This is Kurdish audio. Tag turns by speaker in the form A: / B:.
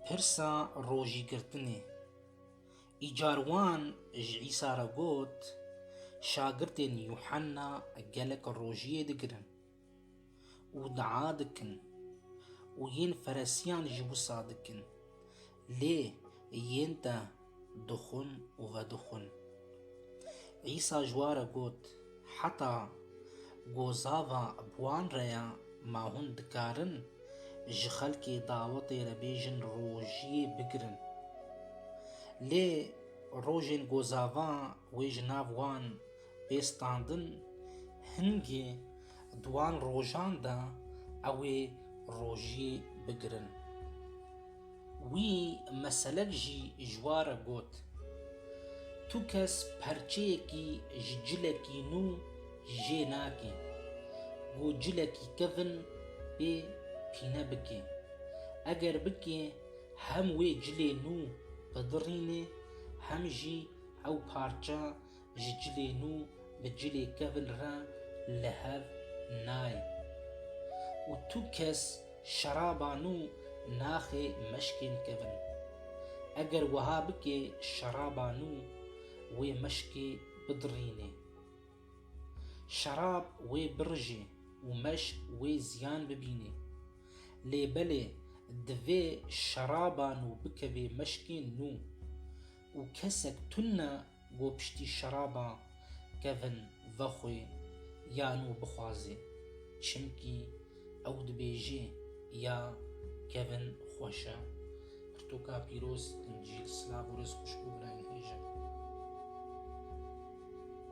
A: Pirsa rojîgirtinê. Îcar wan ji Îsa re got, Şagirtên Yuhanna gelek rojiyê digirin û dua dikin û yên Feresiyan ji wisa dikin, lê yên te Dixwin û vedixwin. Îsa ji wan re got, Heta gozava bi wan re ye ma hûn dikarin ji xelkê dawetê re bêjin rojiyê bigirin. Lê rojên gozava wê ji nav wan Bê standin hingê duwan rojan de ew ê rojî bigirin. Wî meselek jî ji wa re got, Tu kes perçeyekî ji cilekî nû jê nakê ku cilekî kevin pê pîne bikê. Eger bikê hem wê cilê nû bidirînê hem jî ew parça Ji cilê nû bi cilê kevil re li hev nayên. Û tu kes şeraba nû naxê meşkên kevil. Eger wiha bikê şeraba nû wê meşkê bidirînê. Şerab wê birijê û meşk wê ziyan bibînê. Lê belê divê şeraba nû bikevê meşkên nû. Û kesek tune Ku piştî şeraba kevin ve xwe yan û bixwaze. Çimkî ew dibêje ya kevin xweş e. Pirtûka pîroz, Încîl, silav û rêz xwişk û birayê hêja.